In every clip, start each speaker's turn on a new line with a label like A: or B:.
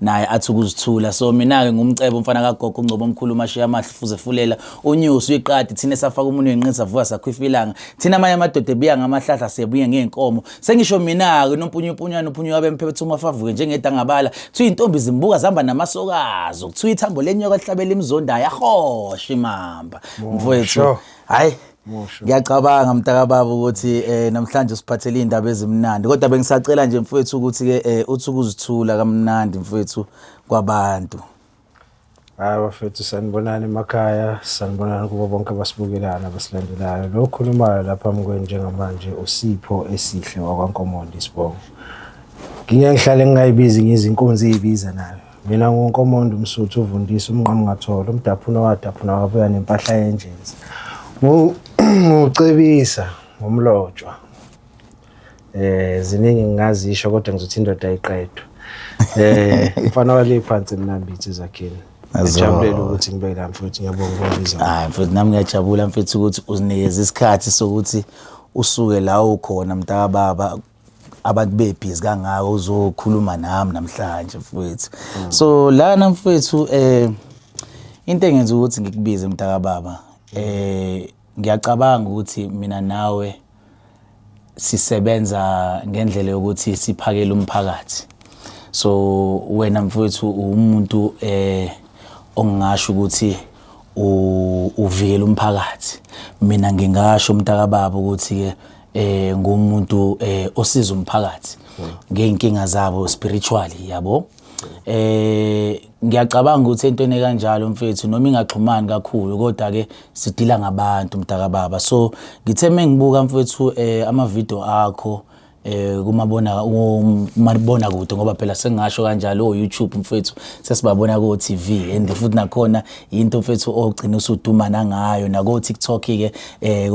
A: naye athi ukuzithula so mina-ke ngumcebo umfana kagogo ungcobo omkhulu umashiya amahle fuze fulela unyusi uyiqadi thina esafaka umuntu wenqini savuka sakhwifa ilanga thina amanye amadoda ebuya ngamahlahla siyebuye ngey'nkomo sengisho mina-ke unompunyupunywana uphunyuka bemphephetha uma favuke njengedangabala kuthiwa iy'ntombi zimbuka zihamba namasokazo kuthiwa ithambo lenyoka lihlabela imzondayo ahoshe imamba mfowethu hhayi ngiyacabanga mntakababa ukuthi eh namhlanje usiphathele indaba ezimnandi kodwa bengisacela nje mfowethu ukuthi ke eh uthi ukuzithula kamnandi mfowethu kwabantu
B: hayi bafethu sanibonani emakhaya sanibonani kubo bonke abasibukelayo nabasilandelayo lo okhulumayo lapha mkweni njengamanje usipho esihle wakwankomondi sibongo ngingengihlale ngingayibizi ngizinkunzi ezibiza nayo Mina nguNkomondo uMsuthu uvundisa umnqamu ngathola umdaphuna wadaphuna wabuya nempahla yenjezi. Ngucebisa ngomlotshwa. Eh ziningi ngingazisho kodwa ngizothi indoda ayiqedwe. Eh mfana wale phansi mnambithi zakhini. Ngijabulele ukuthi ngibe la mfowethu ngiyabonga ukubizwa. Hayi mfowethu nami
A: ngiyajabula mfowethu ukuthi uzinikeza isikhathi sokuthi usuke la ukhona mntakababa abantu bebhizi kangaka uzokhuluma nami namhlanje mfowethu mm. so lana mfowethu um into engenza ukuthi ngikubize mntakababa um ngiyacabanga ukuthi mina nawe sisebenza ngendlela yokuthi siphakele umphakathi so wena mfowethu uwumuntu eh ongingasho ukuthi uvikela umphakathi mina ngingasho umntakababa ukuthi ke eh ngumuntu eh osiza umphakathi ngeenkinga zabo spiritually yabo eh ngiyacabanga ukuthi into ene kanjalo mfethu noma ingaxhumani kakhulu kodwa ke sidila ngabantu mdaka baba so ngithe mengibuka mfethu eh ama video akho eh kumabona umabona kude ngoba phela sengasho kanjalo o oh, YouTube mfethu sesibabona ko TV and futhi nakhona yinto mfethu ogcina usuduma nangayo nako TikTok ke eh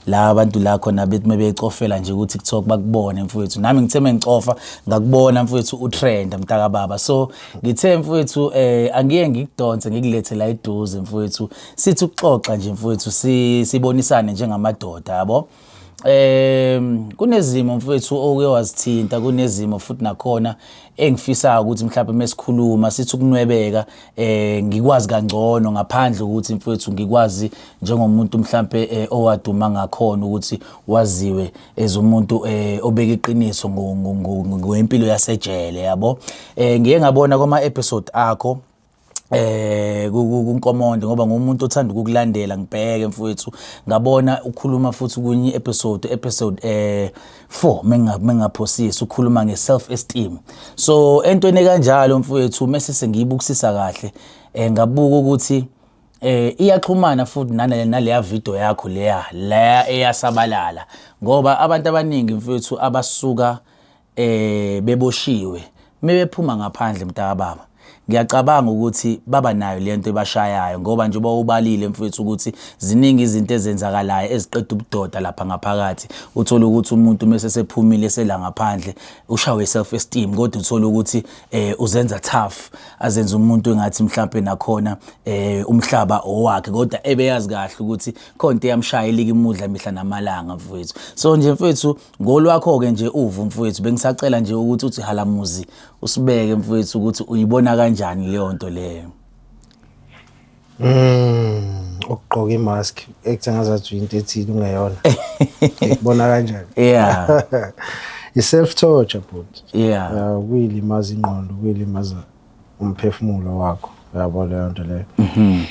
A: la abantu la khona bethi mebecofela nje ku TikTok bakubone mfethu nami ngithe mengicofa ngakubona mfethu utrend mtaka baba so ngithe mfethu eh angiye ngikudonse ngikulethe la iduze mfethu sithi ukuxoxa nje mfethu sibonisane njengamadoda yabo um kunezimo mfethu oke wazithinta kunezimo futhi nakhona engifisayo ukuthi mhlawumbe mesikhuluma sithi ukunwebeka um ngikwazi kangcono ngaphandle ukuthi mfethu ngikwazi njengomuntu mhlawumbe um eh, owaduma ngakhona ukuthi waziwe as umuntu um eh, obeka iqiniso ngempilo yasejele yabo um ngiye ngabona kwama-episode akho eh kunkomonde ngoba ngumuntu othanda ukukulandela ngibheke mfowethu ngabona ukhuluma futhi kunye episode episode eh 4 menga mengaphosisi ukhuluma nge self esteem so entweni kanjalo mfowethu mese sengiyibukisisa kahle eh ngabuka ukuthi eh iyaxhumana futhi nale naleya video yakho leya la eyasabalala ngoba abantu abaningi mfowethu abasuka eh beboshiwe mebephuma ngaphandle mntakababa ngiyacabanga ukuthi baba nayo lento ebashayayo ngoba njengoba ubalile mfethu ukuthi ziningi izinto ezenzakalayo eziqeda ubudoda lapha ngaphakathi uthola ukuthi umuntu mese sephumile sela ngaphandle ushawe self esteem kodwa uthola ukuthi eh uzenza tough azenza umuntu engathi mhlawumbe nakhona eh umhlaba owakhe kodwa ebeyazi kahle ukuthi khona into eyamshaya elikimudla mihla namalanga mfethu so nje mfethu Ngolwakho-ke nje uvo mfowethu, bengisacela nje ukuthi uthi halamuzi usibeke mfowethu ukuthi uyibona kanjani leyo nto leyo.
B: Mm, ukugqoka imask ekuthe ngazathi into ethile ungeyona. Ikubona kanjani? Yeah.
A: I self
B: torture bhuti. Yeah. Uh,
A: kuyilimaza ingqondo,
B: kuyilimaza umphefumulo wakho uyabo leyo nto leyo mhm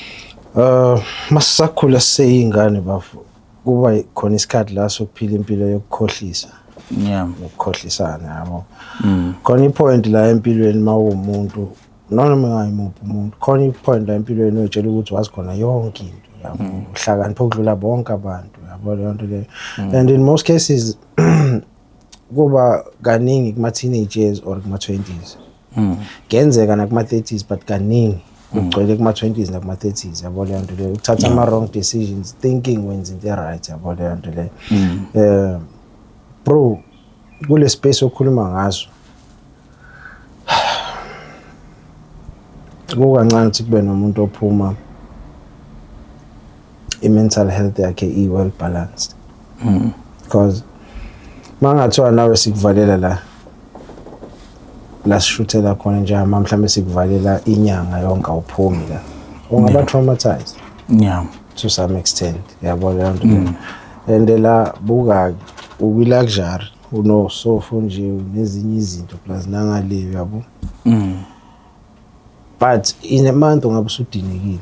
B: uh masisakhula seyingane bafo kuba khona isikhathi la sokuphila impilo yokukhohlisa yeah
A: ukukhohlisana
B: yabo mm. khona ipoint la empilweni mawumuntu noma ngayimuphi umuntu khona ipoint la empilweni otshela ukuthi wazi khona yonke into yabo mm. uhlakanipha ukudlula bonke abantu yabo leyo nto leyo mm. and in most cases kuba kaningi kuma teenagers or kuma 20s mm. kuyenzeka nakuma-30s but kaningi kugcwele kuma-20s nakuma-30s yabo leyo nto leyo ukuthatha ama-wrong decisions thinking wenza into e-right yabo leyo nto leyo um bro kule space okhuluma ngaso kukancane ukuthi kube nomuntu ophuma i-mental health yakhe i-well balanced mm. because mangathiwa nawe sikuvalela la lasishuthela khona njama mhlawumbe sikuvalela inyanga yonke awuphumi la ungaba traumatized yeah to some extent yabo leyo nto mm. and la buka ukwi luxury unosofo nje nezinye izinto plus nangale yabo mm. but in a month ungabe usudinekile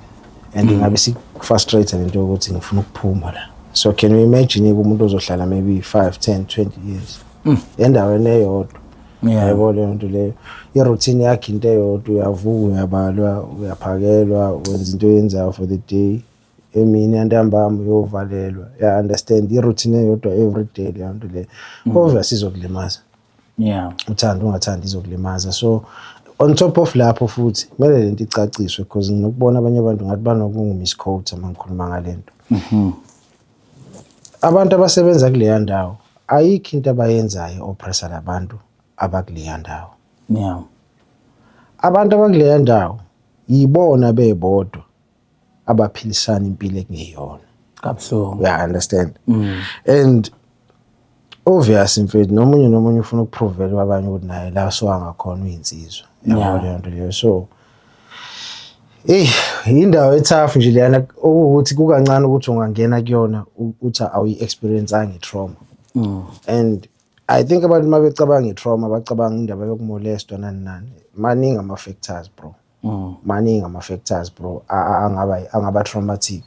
B: and mm. ngabe sikufrustrate lento yokuthi ngifuna ukuphuma la so can you imagine umuntu ozohlala maybe 5 10 20 years mm. endaweni eyodwa yebo leyo nto leyo iroutine yakhe into eyodwa uyavuka uyabalwa uyaphakelwa wenza into oyenzayo for the day emini yantambama uyovalelwa ya understand iroutine eyodwa every day leyo nto leyo mm. obviously izokulimaza yeah uthanda ungathanda izokulimaza so on top of lapho futhi kumele lento icaciswe because nginokubona abanye abantu ngathi banokungu-misquote uma ngikhuluma ngale nto mhm. abantu abasebenza kuleya ndawo ayikho into abayenzayo oppressa labantu abakuleya ndawo yeah abantu abakuleya ndawo yibona bebodwa abaphilisana impilo ekungeyona kabuhlungu yeah, I understand mm. and obvious mfethu nomunye nomunye ufuna ukuprovela kwabanye ukuthi naye la so angakhona uyinsizwa yabo leyo nto leyo so Ey indawo ethafu nje leyana ukuthi kukancane ukuthi ungangena kuyona uthi awuyi experience angi trauma mm. and i think abantu mabecabanga itrauma bacabanga indaba yokumolestwa nani nani maningi ama factors bro mm. maningi ama factors bro angaba angaba traumatic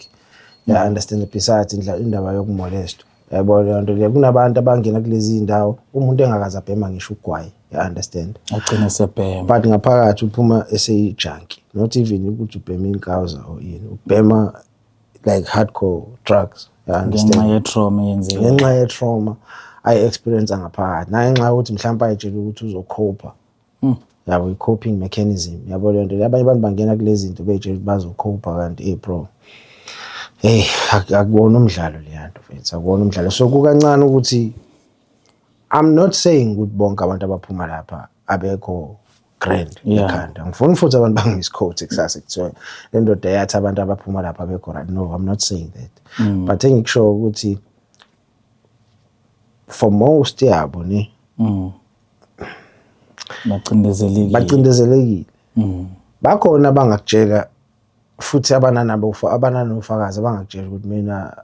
B: mm. ya understand besides indla indaba yokumolest yabo le nto le kunabantu abangena kulezi ndawo umuntu engakaza bhema ngisho ugwayi ya understand agcina sebhema
A: but ngaphakathi
B: uphuma eseyi junkie not even ukuthi ubhema inkawuza or yini ubhema like hardcore drugs ya understand ngenxa ye trauma yenzile ngenxa ye trauma ayi experience ngaphakathi naye nxa ukuthi mhlawumbe ayitshela ukuthi uzokhopha Mm. Yabo i-coping mechanism. Yabo le nto abanye abantu bangena kulezi zinto beyitshela ukuthi bazokhopha kanti ey bro. Hey akuwona umdlalo leya nto mfethu akuwona umdlalo. So kukancane ukuthi I'm not saying ukuthi bonke abantu abaphuma lapha abekho grand ekhanda ngifuna futhi abantu bangimiscoat kusasa kuthiwa le ndoda yathi abantu abaphuma lapha abekho right no I'm not saying that mm. but engikushoyo ukuthi for most yabo ne mm. bacindezelekile bacindezelekile mm. bakhona abangakutshela futhi abananabo abananofakazi abangakutshela ukuthi mina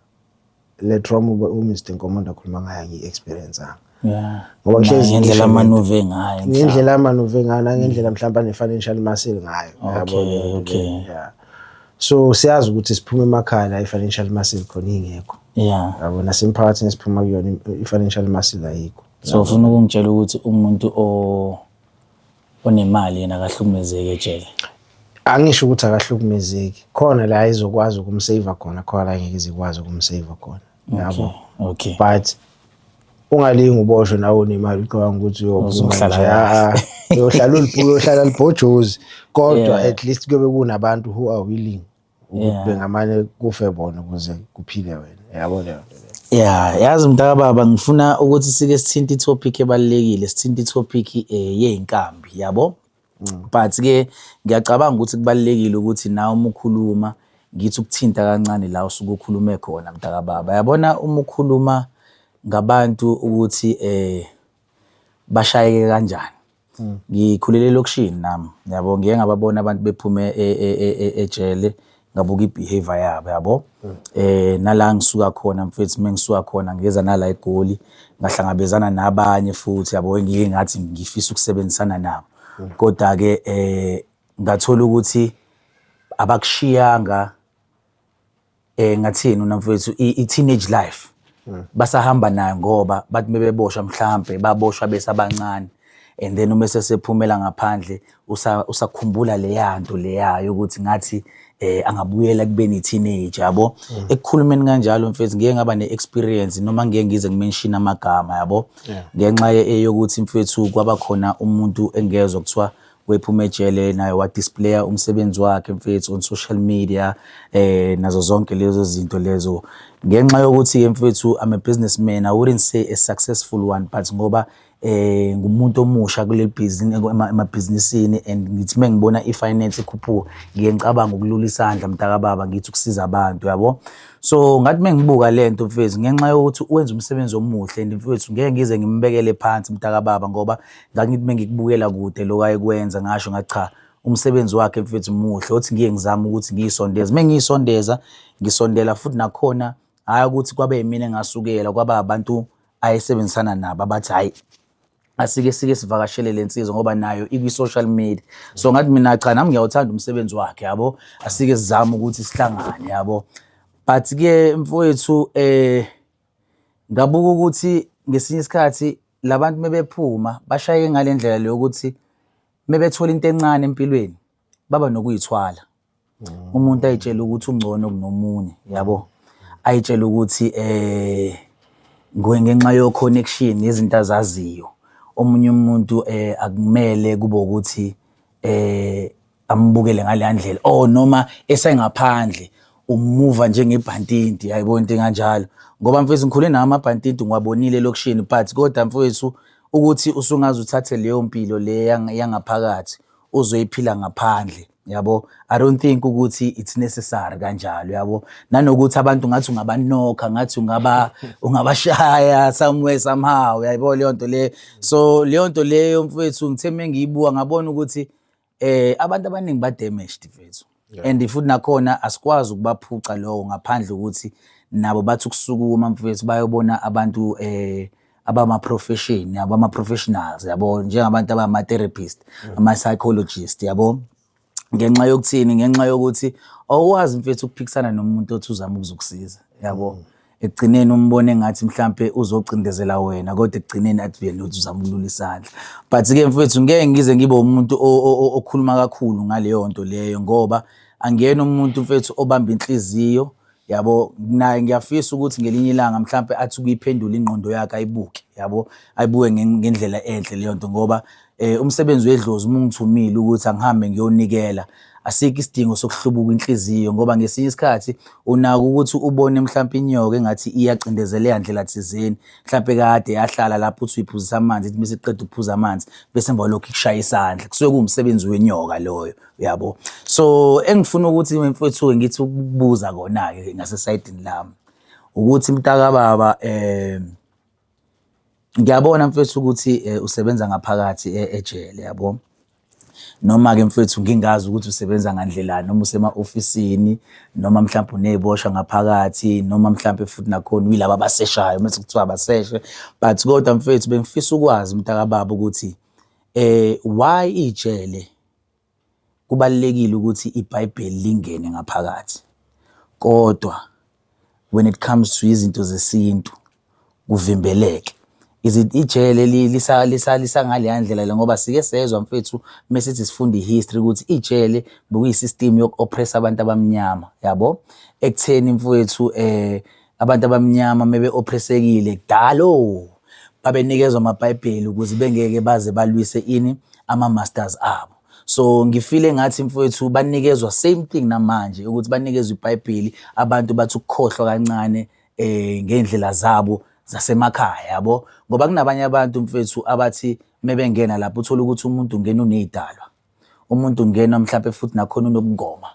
B: le trauma uMr Nkomonda akhuluma ngayo ngiyi-experience anga ngoba kuhlezi ngendlela
A: amanuve ngayo ngendlela amanuve ngayo
B: nangendlela mm. mhlawumbe ane-financial muscle ngayo okay okay yeah so siyazi ukuthi siphuma emakhaya la i-financial muscle khona ingekho yeah yabo nasemphakathini esiphuma kuyona i-financial muscle ayikho so ufuna ukungitshela
A: ukuthi umuntu o onemali yena akahlukumezeki ejele angisho
B: ukuthi akahlukumezeki khona la izokwazi ukumsave khona khona la ngeke izikwazi ukumsave khona yabo okay but ungalingi uboshwe nawe unemali ucabanga ukuthi uyohlala uyohlala ulibhuku uyohlala libhojozi kodwa at least kube kunabantu who are willing ukuthi bengamane kufe bona ukuze kuphile wena yabo leyo nto ya yazi
A: mntaka baba ngifuna ukuthi sike sithinte itopic ebalekile sithinte itopic eh, yeinkambi yabo Mm. but ke ngiyacabanga ukuthi kubalekile ukuthi nawe uma ukhuluma ngithi ukuthinta kancane la usuke ukhulume khona mntakababa yabona uma ukhuluma ngabantu ukuthi eh bashayeke kanjani ngikhulele elokishini nami yabo ngiye ngababona abantu bephume e, e, e, ejele ngabuka i-behavior yabo yabo eh nala ngisuka khona mfethu mengisuka khona ngeza nala egoli ngahlangabezana nabanye futhi yabo engiye ngathi ngifisa ukusebenzisana nabo kodwa ke eh ngathola ukuthi abakushiyanga eh ngathini unamfowethu i-teenage life mm. basahamba nayo ngoba bathi mebeboshwa mhlampe baboshwa besabancane and then uma sesephumela ngaphandle usakhumbula usa leya nto leya yokuthi ngathi eh angabuyela kubeni teenager yabo mm. ekukhulumeni kanjalo mfethu ngeke ngaba neexperience noma ngeke ngize ngimention amagama yabo ngenxa eyokuthi mfethu kwaba khona umuntu engezwe kuthiwa wephuma ejele naye wadisplaya umsebenzi wakhe mfethu on social media eh nazo zonke lezo zinto lezo ngenxa yokuthi ke mfethu I'm a businessman I wouldn't say a successful one but ngoba eh ngumuntu omusha kuleli business emabhizinisini and ngithi mengibona ifinance ikhuphuka ngiye ngicabanga ukulula isandla mntaka baba ngithi ukusiza abantu yabo so ngathi mengibuka lento mfethu ngenxa yokuthi wenza umsebenzi omuhle and mfethu ngeke ngize ngimbekele phansi mntaka baba ngoba ngangithi uma ngikubukela kude lokhu ayekwenza ngasho ngathi cha umsebenzi wakhe mfethu muhle othi ngiye ngizame ukuthi ngiyisondeze uma ngiyisondeza ngisondela futhi nakhona hhayi ukuthi kwabe yimina engasukela kwaba abantu ayesebenzisana nabo abathi hhayi asike sike sivakashele le nsizwa ngoba nayo ikwi-social media so ngathi mina cha nami ngiyawuthanda umsebenzi wakhe yabo asike sizame ukuthi sihlangane yabo but-ke mfowethu um Ngabuka ukuthi ngesinye isikhathi labantu mebephuma bashaye ngalendlela leyo ukuthi mebethola into encane empilweni baba nokuyithwala. Mm. Umuntu ayitshela ukuthi ungcono kunomunye, yabo. Ayitshela ukuthi eh ngenxa yo connection izinto azaziyo. Omunye umuntu eh akumele kube ukuthi eh ambukele ngaleya ndlela or oh, noma esengaphandle umuva njengebhantinti yayibona into enganjalo ngoba mfethu ngikhule nawo amabhantinti ngiwabonile elokishini but kodwa mfethu ukuthi usungaze uthathe leyo mpilo le yangaphakathi uzoyiphila ngaphandle yabo i don't think ukuthi it's necessary kanjalo yabo nanokuthi abantu ngathi ungabanokha ngathi ungaba ungabashaya somewhere somehow yayibona leyo nto le so leyo nto leyo mfethu ngithe mengiyibuka ngabona ukuthi eh abantu abaningi ba damaged mfethu and futhi nakhona asikwazi ukubaphuca lowo ngaphandle ukuthi nabo bathi ukusukuma mfethu bayobona abantu eh abama-profession yabo ama-professionals yabo njengabantu abama-therapist mm. ama-psychologist yabo ngenxa yokuthini ngenxa yokuthi awukwazi mfethu ukuphikisana nomuntu othi uzama ukuzokusiza yabo mm. ekugcineni umbone ngathi mhlampe uzocindezela wena kodwa ekugcineni athi vele uthi uzama ukulula isandla but ke mfethu ngeke ngize ngibe umuntu okhuluma kakhulu ngaleyo nto leyo ngoba angiyena umuntu mfethu obamba inhliziyo yabo naye ngiyafisa ukuthi ngelinye ilanga mhlampe athi kuyiphendula ingqondo yakhe ayibuke yabo ayibuke ngendlela enhle leyo nto ngoba Eh, umsebenzi wedlozi uma ungithumile ukuthi angihambe ngiyonikela asikho isidingo sokuhlubuka inhliziyo ngoba ngesinye isikhathi unaka ukuthi ubone mhlawumpe inyoka engathi iyacindezeleka ndlela thizeni mhlawumpe kade yahlala lapho uthi uyiphuzisa amanzi ithi bese iqeda ukuphuza amanzi bese emva lokho ikushaya isandla kusuke kuwumsebenzi wenyoka loyo uyabo so engifuna ukuthi mfowethu-ke ngithi ukubuza kona-ke ngasesayidini lami ukuthi mntakababa um eh, ngiyabona mfethu ukuthi eh, usebenza ngaphakathi e-, ejele yabo noma-ke mfethu ngingazi ukuthi usebenza ngandlelani noma usema-ofisini noma mhlawumbe uney'boshwa ngaphakathi noma mhlawumbe futhi nakhona uyilaba abaseshayo mese kuthiwa abaseshe but kodwa mfethu bengifisa ukwazi mntakababa ukuthi eh why ijele Kubalulekile ukuthi ibhayibheli lingene ngaphakathi. Kodwa when it comes to izinto zesintu kuvimbeleke. Ijele lisangaleya ndlela le ngoba sike sezwa mfethu mesithi sifunda i-history ukuthi ijele bekuyi-system yoku-oppress-a abantu abamnyama yabo. Ekutheni mfwethu . Abantu abamnyama mebe-ophresekile kudala o babenikezwa amabhayibheli ukuze bengeke baze balwise ini ama-masters abo so ngifile ngathi mfowethu banikezwa same thing namanje ukuthi banikezwa ibhayibheli abantu bathi ukukhohlwa kancane eh ngendlela zabo zasemakhaya yabo ngoba kunabanye abantu mfethu abathi mebengena lapho uthola ukuthi umuntu ungena unezidalwa umuntu ungena mhlawumbe futhi nakhona unokugoma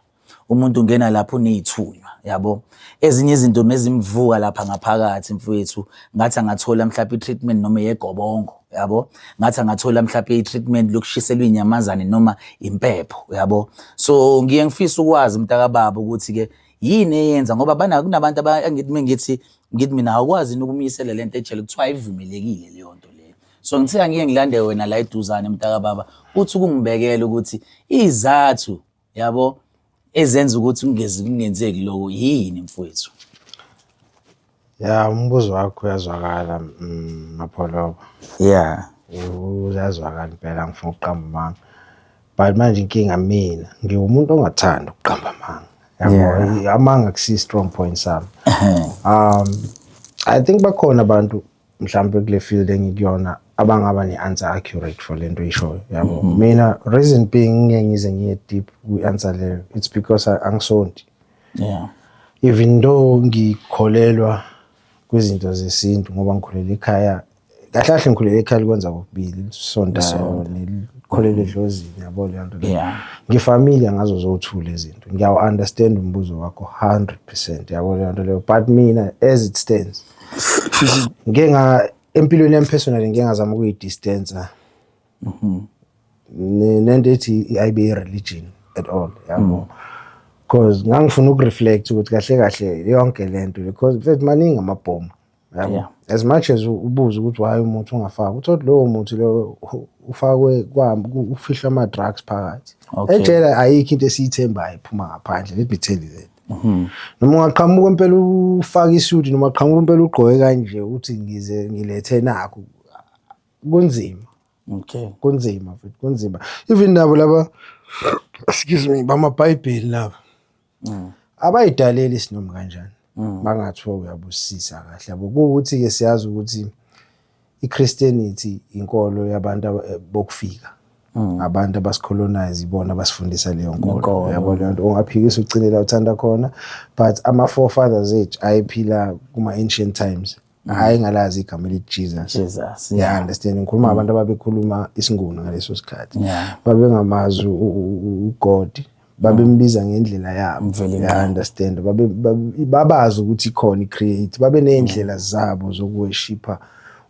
A: umuntu ungena lapho uneyithunywa yabo ezinye izinto mezimvuka lapha ngaphakathi mfowethu ngathi angathola mhlawumbe i-treatment noma yegobongo yabo ngathi angathola mhlawumbe i-treatment lokushiselwa inyamazane noma impepho yabo so ngiye ngifisa ukwazi mntakababa ukuthi-ke yini eyenza ngoba bana kunabantu angithi ngithi mina awukwazi ukumyisela lento ejele kuthiwa ayivumelekile leyo nto leyo so ngithiya ngike ngilande wena la eduzane mntaka baba uthi ukungibekela ukuthi izathu yabo ezenza ukuthi kungezi kungenzeki lokho yini mfowethu
B: ya umbuzo wakho uyazwakala mm, mapholoba yeah
A: uyazwakala
B: impela ngifuna ukuqamba amanga but manje inkinga mina ngiwumuntu ongathanda ukuqamba amanga yabo amanga kusi strong point sami um i think bakhona abantu mhlawumbe kule field engikuyona abangaba ne-answer accurate for lento oyishoyo yabo mhm. mina reason being ngeke ngize ngiye deep kwi-answer leyo it's because angisonti yeah
A: even
B: though ngikholelwa kwizinto zesintu ngoba ngikhulele ekhaya kahle kahle ngikhulele ekhaya likwenza kokubili lisontayo nelikholele edlozini yabo leyo nto ngifamile
A: ngazo
B: zothule izinto ngiyawu-understand umbuzo wakho 100 percent yabo leyo nto leyo but mina as it stands ngike nga empilweni yami personally ngike ngazama ukuyidistance mhm. nento ethi ayibe i-religion at all yabo mm. because ngangifuna ukureflect ukuthi kahle kahle yonke le nto because mfethu maningi amabhomu yabo as much as ubuze ukuthi why umuntu ungafaki uthi lowo muntu lowo ufakwe ufihlwa ama-drugs phakathi ejele ayikho into esiyithembayo iphuma ngaphandle let me tell you that Mhm. Noma ungaqhamuka impela ufaka isuit noma aqhamuka impela ugqoke kanje uthi ngize ngilethe nakho. Kunzima. Okay.
A: Kunzima futhi
B: kunzima. Even nabo laba excuse me bamaBhayibheli laba. Mm. Abayidaleli isinomi kanjani. Mm. Bangathiwa uyabusisa kahle yabo. Kuwukuthi ke siyazi ukuthi iChristianity inkolo yabantu eh, bokufika mm. abantu abasicolonize ibona basifundisa leyo nkolo yabo leyo nto ungaphikisa ugcine la uthanda khona but ama forefathers ethu ayephila kuma ancient times mm. hayi ngalazi igama elithi Jesus Jesus yeah understand ngikhuluma mm. abantu ababekhuluma isinguni ngaleso sikhathi babengamazi uGod babembiza ngendlela yabo Mvelinqangi. understand babe babe- babazi ukuthi ikhona i-create babe ney'ndlela zabo zokuweshipha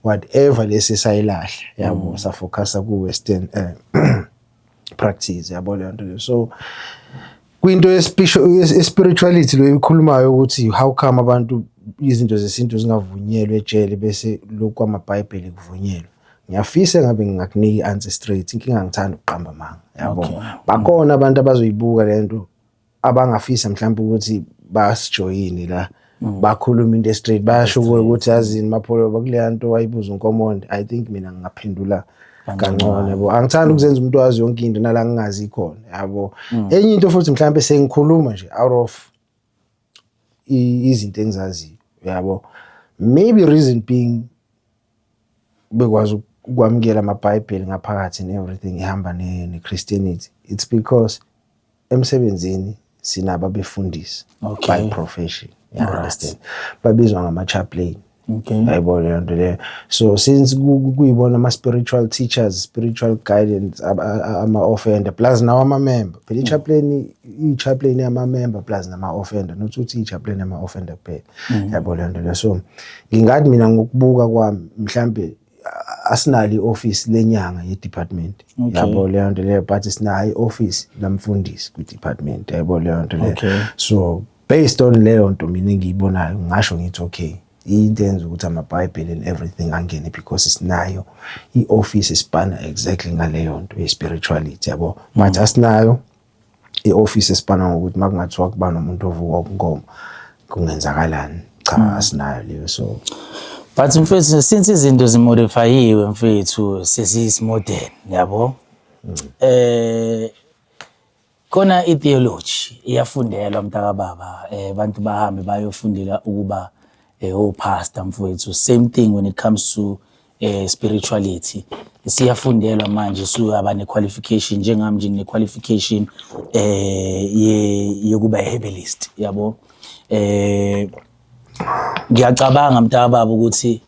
B: whatever lesi sayilahle yabo safocusa ku-western eh, practice yabo leyo nto leyo so kwinto yespisho- yes- ye-spirituality leyo ikhulumayo ukuthi how come abantu izinto zesintu zingavunyelwe ejele bese lokhu kwamabhayibheli kuvunyelwe ngiyafisa ngabe ngingakunika i-answer straight inkinga ngithanda ukuqamba amanga yabo okay. bakhona abantu abazoyibuka lento abangafisa mhlawumbe ukuthi basijoyine la mm. bakhuluma into straight bayasho kuwe ukuthi yazini mapholo bakuleya nto wayibuza unkomonde i think mina ngingaphendula kangcono yabo angithandi ukuzenza umuntu wazi yonke into nala ngingazi ikhona yabo mm. enye into futhi mhlawumbe sengikhuluma nje out of izinto engizaziyo yabo maybe reason being bekwazi ukwamukela amabhayibheli ngaphakathi and everything ihamba ne-christianity it's because emsebenzini sinabo abefundisi okay. by profession you right. understand babizwa ngama-chaplain okay. yayibona leyo nto leyo so since kuyibona ama-spiritual teachers spiritual guidance ama-offender plus nawo amamember phela i-chaplain mm. i-chaplain yama-member plus nama-offender not ukuthi i-chaplain yama-offender kuphela mhm. yabo le nto le so ngingathi mina ngokubuka kwami mhlawumbe asinalo i-office lenyanga ye-department yabo leyo nto leyo but sinayo i-office lamfundisi kwi-department yabo leyo nto leyo so based on leyo nto mina engiyibonayo ngasho ngithi okay into enza ukuthi amabhayibheli and everything angene because sinayo i-office isibhana exactly ngaleyo nto ye-spirituality yabo but asinayo i-office esibhana ngokuthi uma kungathiwa kuba nomuntu ovuka ubunkomo kungenzakalani cha mm. asinayo leyo so but mfethu
A: since izinto zimodifayiwe mfethu sesiyisimodern yabo mm. eh khona i-theology iyafundelwa mntakababa um eh, abantu bahambe bayofundela ukuba um eh, opastor mfowethu same thing when it comes to eh spirituality siyafundelwa manje suyaba ne qualification njengami nje ngine qualification eh ye yokuba herbalist yabo eh ngiyacabanga mntaka baba ukuthi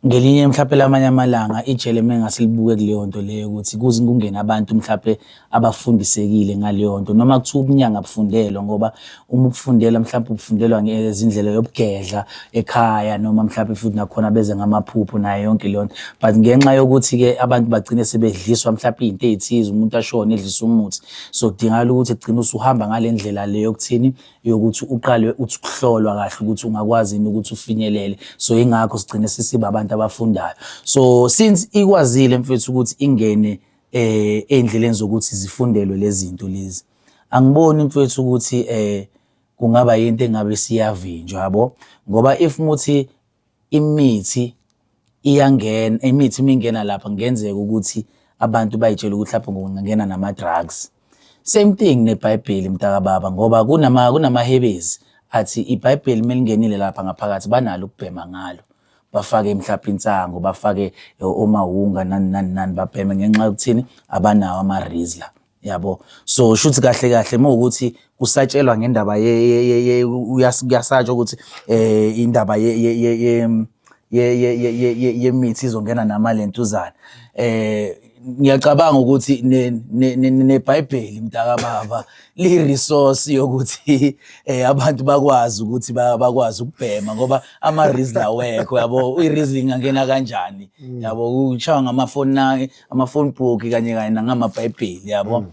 A: ngelinye mhlawumbe lamanye amalanga ijele mengasilibuke kuleyo nto leyo ukuthi kuze kungene abantu mhlawumbe abafundisekile ngaleyo nto noma kuthiwa ubunyanga bufundelwa ngoba uma ubufundela mhlawumbe ubufundelwa ngezindlela yobugedla ekhaya noma mhlawumbe futhi nakhona beze ngamaphupho nayo yonke leyo nto but ngenxa yokuthi-ke abantu bagcine sebedliswa mhlawumbe iy'nto ey'thize umuntu ashone edlisa umuthi so kudingakala ukuthi kugcine usuhamba ngale ndlela le yokuthini yokuthi uqale uthi ukuhlolwa kahle ukuthi ungakwazi yini ukuthi ufinyelele so yingakho sigcine sisiba abantu abafundayo so since ikwazile mfethu ukuthi ingene eh endleleni zokuthi zifundelwe lezinto lezi angiboni mfethu ukuthi eh kungaba into engabe siyavinjwa yabo ngoba if muthi imithi iyangena imithi mingena lapha ngenzeka ukuthi abantu bayitshela ukuthi lapho ngingena nama drugs Same thing neBhayibheli mntakababa ngoba kunama kunamahebezi athi iBhayibheli melingenile lapha ngaphakathi banalo ukubhema ngalo. Bafake mhlawumbe insango, bafake omawunga nani nani nani babheme ngenxa yokuthini abanawo ama-Rizla. Yabo. So shuthi kahle kahle mawukuthi kusatshelwa ngendaba ye uyasatshwa ukuthi eh indaba ye yemithi izongena namalentuzana eh ngiyacabanga ukuthi nebhayibheli mntaka baba li-resource yokuthi eh abantu bakwazi ukuthi bakwazi ukubhema ngoba ama-reason awekho yabo i-reason ingangena kanjani mm. yabo kushaywa ngamafoni amafoni book kanye kanye nangamabhayibheli yabo mm.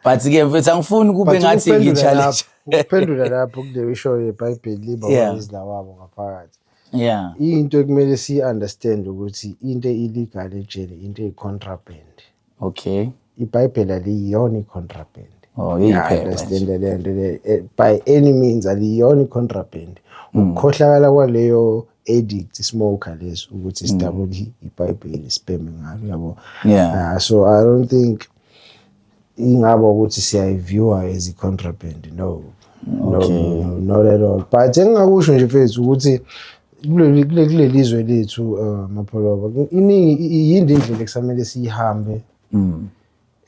A: but ke mfethu angifuni kube ngathi ngi-challenge ukuphendula lapho
B: kuleyo ishoyo yebhayibheli liba yeah. wabo ngaphakathi yeah
A: into ekumele si
B: understand ukuthi into illegal ejele into e contraband okay
A: ibhayibheli
B: aliyona i contraband oh yeah
A: understand le
B: nto le eh, by any means aliyona i contraband mm. ukukhohlakala kwaleyo addict smoker leso ukuthi mm. sidabule ibhayibheli sibheme ngalo yabo yeah ah, so i
A: don't think
B: ingaba ukuthi siyayiviewa as i-contraband no no
A: not at all
B: but engingakusho nje mfethu ukuthi kuleli zwe lethu uh, mapholoba iningi yindi indlela ekusamele siyihambe mm.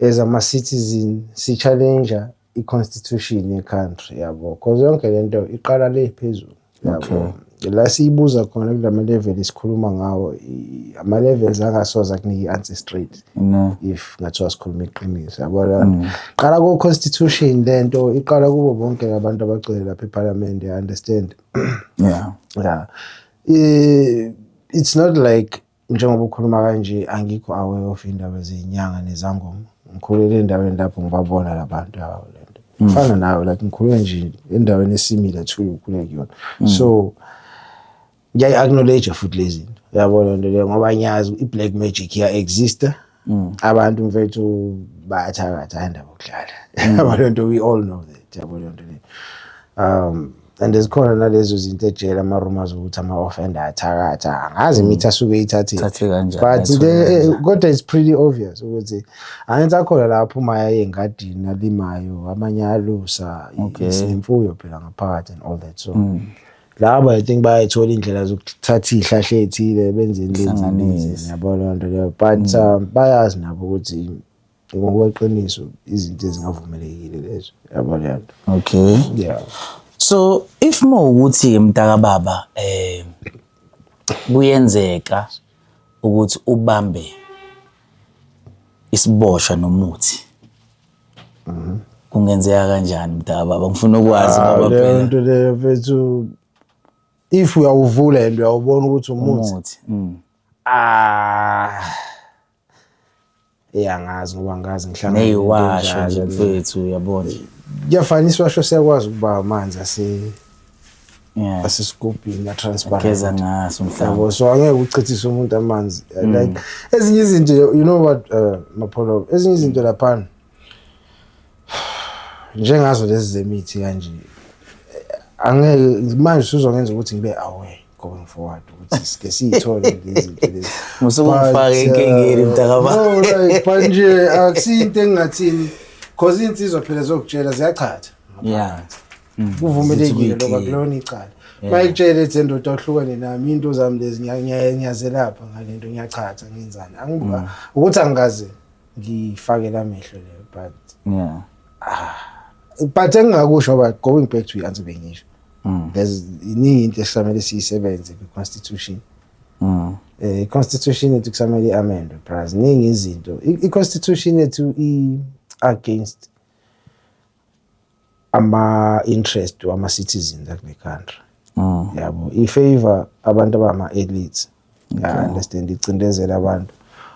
B: as ama-citizen si-challenger i-constitution ye-country yabo because yonke le nto iqala le phezulu yabo la siyibuza khona kula ma-level sikhuluma ngawo i- ama-levels angasoze akunike i-answer straight no if ngathiwa sikhuluma iqiniso yabona Mm. qala ku-constitution le nto iqala kubo bonke labantu abagcwele lapha ephalamende i understand yeah ya Eh, it's not like njengoba ukhuluma kanje angikho aware of indaba zenyanga nezangoma ngikhulele endaweni lapho ngibabona labantu yabo lento mm. fana nawe like ngikhuluma nje endaweni esimile to ukhuleke kuyona mm. so ngiyayi acknowledge futhi lezi yabo lento le ngoba ngiyazi i black magic iya exista mm. abantu mfethu bayathakatha andaba okudlala mm. yabo lento we all know that yabo lento le um and zikhona nalezo zinto ejele ama-rumors ukuthi ama-offender athakatha angazi mm. imithi asuke ithathile but eh, kodwa it's pretty obvious ukuthi angenza khona la aphumayo engadini alimayo amanye alusa sinemfuyo phela ngaphakathi and all that so mm. laba i think bayayithola indlela zokuthatha izihlahla ezithile benzeni lezi yabo loo nto leyo but mm. um, bayazi nabo ukuthi ngokweqiniso izinto ezingavumelekile lezo yabo leyo nto okay
A: yeah
B: so
A: if mo ukuthi ke mntaka baba eh kuyenzeka ukuthi ubambe isiboshwa nomuthi Mhm. Kungenzeka kanjani mdaba baba ngifuna ukwazi ah, ngoba phela. Lento leyo mfethu
B: if uyawuvula and uyawubona ukuthi umuthi. Umuthi. Mm. Ah. Eyangazi ngoba ngazi ngihlangana. Neyiwasho nje
A: mfethu uyabona. Kuyafana isiwasho
B: siyakwazi ukuba amanzi ase yeah. asesigubhini atransparentgeza ngaso mhlawumbe
A: so angeke uchithise
B: umuntu amanzi mm. like ezinye izinto you know what uh, mapholo ezinye izinto laphana njengazo lezi zemithi kanje angeke manje usuzongenza ukuthi ngibe aware going forward ukuthi sike siyithole lezinto lezi musukufaka
A: enkingeni uh, mntakababa no like but
B: nje akusinto engingathini cause insizwa phela zokutshela ziyachatha yeah
A: Mm. kuvumelekile
B: lokho akulona icala mayitshele ethi endoda uhlukane nami into zami lezi ngiyazelapha ngale nto ngiyachatha ngenzani mm. ukuthi angikaze ngifakele amehlo leyo but yeah ah, but engingakusho but going back to i-answer bengisho mm. there's iningi into esisamele siyisebenze kwi-constitution um i-constitution yethu kusamele i-amendwe braz ningi izinto i-constitution yethu i-against ama-interest wama-citizens akule country ah. yabo i-favor abantu abama-elites ya-understand icindezela abantu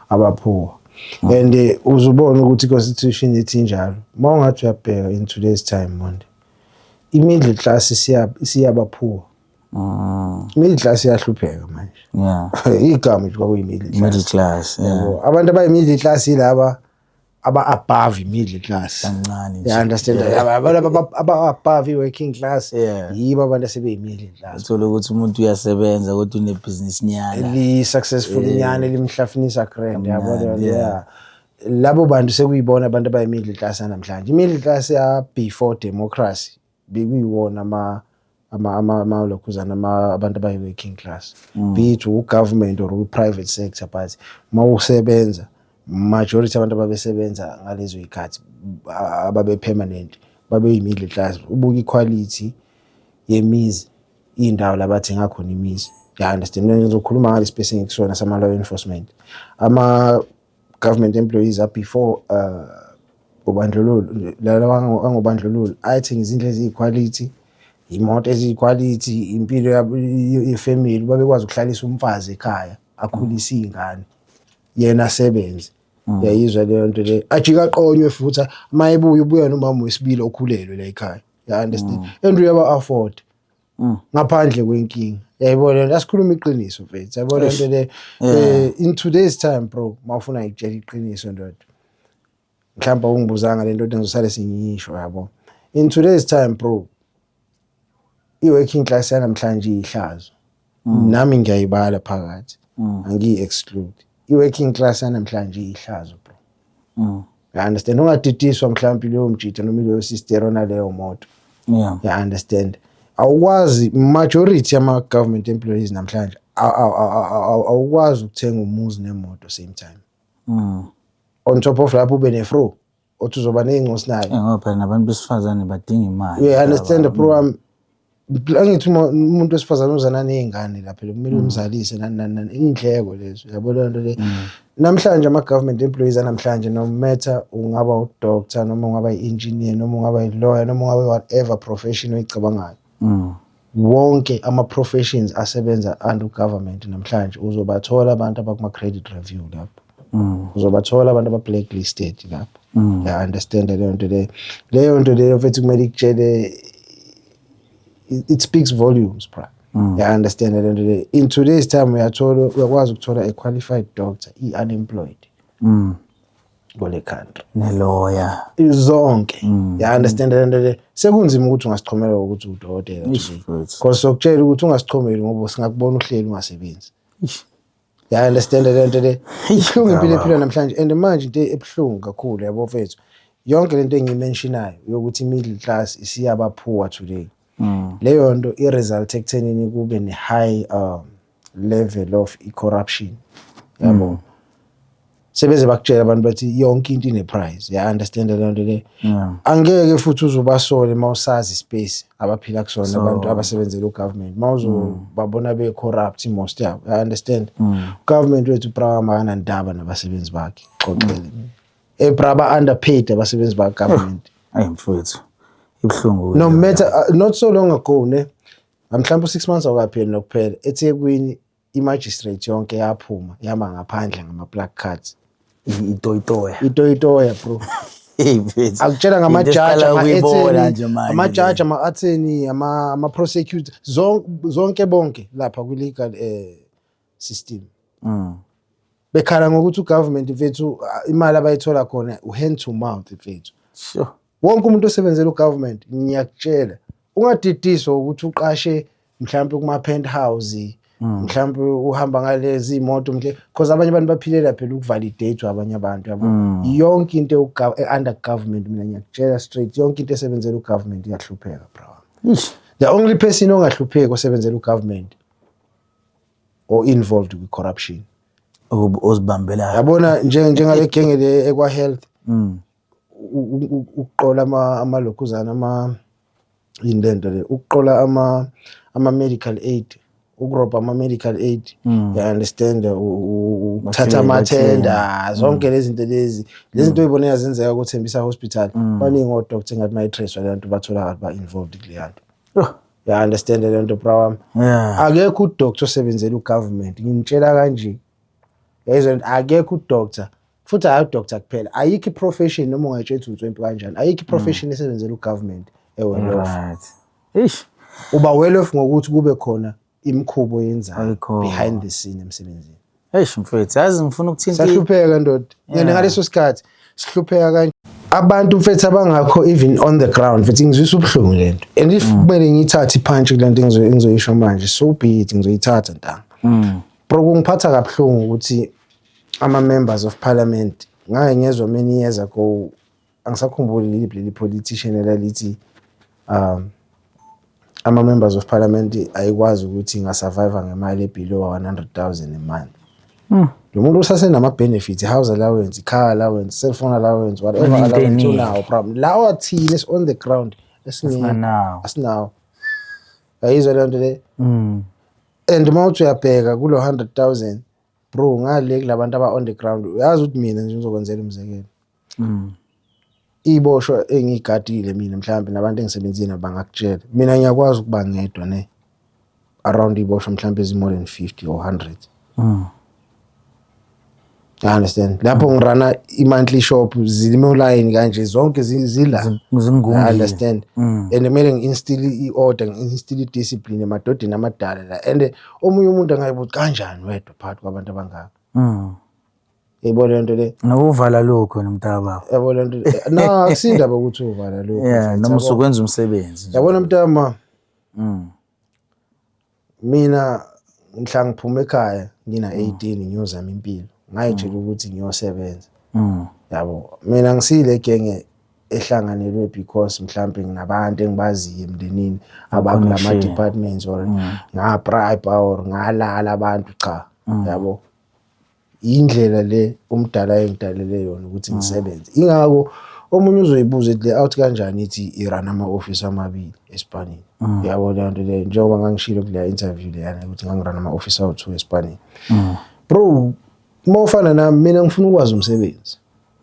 B: abaphuwa ah. and eh, uzubona ukuthi i-constitution ithi njalo uma ungathi uyabheka in today's time monde i-middle class isiyabaphuwa ah. middle class iyahlupheka manje igama nje kwakuyi-middle class abantu abayi-middle class yilaba aba above middle class kancane nje. yeah understand Yeah. Aba- aba- aba- aba above i working class Yeah. yibo abantu asebeyi middle class Uthola ukuthi umuntu
A: uyasebenza kodwa unebhizinisi nyana. li successful
B: nyane limhlafunisa grand yabo Kamnandi, yeah. yeah labo bantu sekuyibona abantu abayi middle class namhlanje i middle class ya before democracy bekuyiwona ama ama ama ama lokhuzana ama abantu abayi working class mm. be it u government or u private sector but mawusebenza majority abantu ababesebenza ngalezo ikhathi ababe permanent babe yi middle class ubuka iquality yemizi indawo labathenga khona imizi ya understand ngizokhuluma ngale space engikusona sama law enforcement ama government employees are before uh, ubandlululo angobandlululo ayithenga izindlu eziyikhwalithi imoto eziyikhwalithi impilo yefamily babekwazi ukuhlalisa umfazi ekhaya akhulise iy'ngane yena asebenze mm. yayizwa leyo nto leyo ajike aqonywe futhi uma ebuya ubuya nomama wesibili okhulelwe la ekhaya ya understand mm. and uyaba afford Mm. ngaphandle kwenkinga yayibona lento asikhuluma iqiniso mfethu yayibona lento le eh, in today's time bro mawufuna ngikutshela iqiniso ndoda mhlawumbe ungibuzanga lento nto ngizosale sengiyisho yabo in today's time bro i-working class yanamhlanje iyihlazo mm. nami ngiyayibala phakathi mm. angiyi-exclude i-working class yanamhlanje iyihlazo mm. ya understand ungaditiswa mhlawumbe leyo mjita noma leyo sister ona leyo moto yeah. ya understand awukwazi majority ama government employees namhlanje awukwazi ukuthenga umuzi nemoto same time mm. on top of lapho ube nefro othi uzoba ney'ncosi nayo ngoba phela nabantu besifazane
A: badinga imali you understand the program
B: angithi uma umuntu wesifazane uzana nezingane lapha lo kumele mm. umzalise nani nani nani indleko lezo yabo le nto le mm. namhlanje ama government employees anamhlanje no matter ungaba u doctor noma ungaba i engineer noma ungaba i lawyer noma ungaba whatever profession oyicabangayo mm. wonke ama professions asebenza under government namhlanje uzobathola abantu abakuma credit review lapho Mm. uzobathola abantu aba-blacklisted lapho mm. ya understand leyo nto leyo leyo nto leyo mfethu kumele ikutshele it speaks volumes bra mm. ya understand leyo nto leyo in today's time uyathola uyakwazi ukuthola a qualified doctor i-unemployed mm. kule country neloya
A: zonke
B: mm. ya understand le nto le sekunzima ukuthi ungasichomela ukuthi udokotela because sokutshela ukuthi ungasichomeli ngoba singakubona uhleli ungasebenzi ya understand le nto le ibuhlungu impilo ephila namhlanje and manje into ebuhlungu kakhulu yabo mfethu yonke lento engiyimentionayo yokuthi middle class isiyaba poor today mm. leyo nto i-result ekuthenini kube ne-high um, level of i-corruption yabo mm. sebeze bakutshela abantu bathi yonke into ine price ya understand leyo nto le angeke futhi uzubasole mawusazi space abaphila kusona abantu abasebenzela ugovernment mawuzobabona mm. be corrupt most yabo i understand mm. government wethu brawa makana ndaba nabasebenzi bakhe xoxele mina e braba underpaid abasebenzi ba government ayi mfowethu
A: ibhlungu no matter uh,
B: not so long ago ne mhlawumbe 6 months awukapheli nokuphela ethekwini imagistrate yonke yaphuma yama ngaphandle ngama plug cards itoyitoya itoyitoya bro akutshela ngamajaji ama-etheni amajaji ama-atheni ama-prosecutor zonke bonke lapha kwi-legal um system mm. bekhala ngokuthi ugovernment mfethu imali abayithola khona uhand to mouth mfethu sure wonke
A: umuntu osebenzela
B: ugovernment ngiyakutshela ungadidiswa ukuthi uqashe mhlawumbe kuma penthouse Mm. mhlawumbe uhamba ngalezi imoto mhle because abanye abantu baphilela phela ukuvalidate abanye abantu yabo mm. yonke into under government mina ngiyakutshela straight yonke into esebenzela ugovernment iyahlupheka bro the only person ongahlupheki osebenzela ugovernment or involved kwi corruption ozibambelayo
A: yabona
B: njengale genge le ekwa health mm. ukuqola ama amalokhuzana ama indento le ukuqola ama ama medical aid ukurobha ama medical aid mm. you understand ukuthatha ama tender zonke lezi zinto lezi lezi zinto uyibona yazenzeka ukuthembisa hospital baningi o doctor ngathi mayitrace abantu bathola ba involved kuleyanto Ya understand le nto bra wami. Yeah. Akekho u doctor osebenzela u government. Nginitshela kanje. Yayizwa akekho u doctor. Futhi hayi u doctor kuphela. Ayikho i profession noma ungayitshela ukuthi unswempi kanjani. Ayikho i mm. profession esebenzela u government. Ewe lo. Right. Ish. Uba well off ngokuthi kube khona imikhubo yenzayo behind the scene emsebenzini. Eish mfethu, yazi
A: ngifuna ukuthinta. Sahlupheka ndoda.
B: Ngene ngaleso sikhathi sihlupheka kanje. Abantu mfethu abangakho even on the ground mfethu ngizwisa ubuhlungu lento. And if mm. kumele ngiyithathe ipunch kulento engizoyisho manje so be it ngizoyithatha ntanga. Mm. Bro kungiphatha kabuhlungu ukuthi ama members of parliament ngake ngezwa many years ago angisakhumbuli liliphi leli politician elalithi um ama-members of parliament ayikwazi ukuthi ingasurvive ngemali ebelow 100,000 a month hmm. lo muntu usasenama-benefits i-house allowance i-car allowance cell phone allowance whatever allowance unawo problem lawa thile is on the ground esinganawo asinawo ayizwa leyo nto le hmm. and uma uthi uyabheka kulo 100,000 bro ngale kulabantu aba on the ground uyazi ukuthi mina nje ngizokwenzela umzekelo mm. iy'boshwa engiyigadile mina mhlawumbe nabantu engisebenzile bangakutshela mina ngiyakwazi ukuba ngedwa ne around iy'boshwa mhlawumbe ezi-more than fifty or hundred mm. I understand lapho mm. ngirana i-monthly shop zilime ulayini kanje zonke zila I understand mm. and kumele ngi-instill i-order ngi-instill i-discipline emadodeni amadala la and omunye umuntu angayibuthi kanjani wedwa phakathi kwabantu abangaka mm. yebo le nto le nokuvala lokho
A: nomntaba yabo le nto na
B: akusindaba ukuthi uvala lokho yeah noma usukwenza
A: umsebenzi yabona mntama
B: mm mina ngihla ngiphuma ekhaya ngina 18 mm. ngiyozama impilo ngayitshela mm. ukuthi ngiyosebenza mm. yabo mina ngisile genge ehlanganelwe because mhlambe nginabantu engibaziyo emndenini abakulama departments or ngabribe or ngalala abantu cha yabo yindlela le umdala engidalele yona ukuthi ngisebenze ingako omunye uzoyibuza ethi le out kanjani ithi irun ama-ofisi amabili esipanini mm. yabo leyo nto leyo njengoba ngangishilo kuleya interview leyana ukuthi ngangirun ama-ofisi awu-two esipanini mm. bro uma ufana nami mina ngifuna ukwazi umsebenzi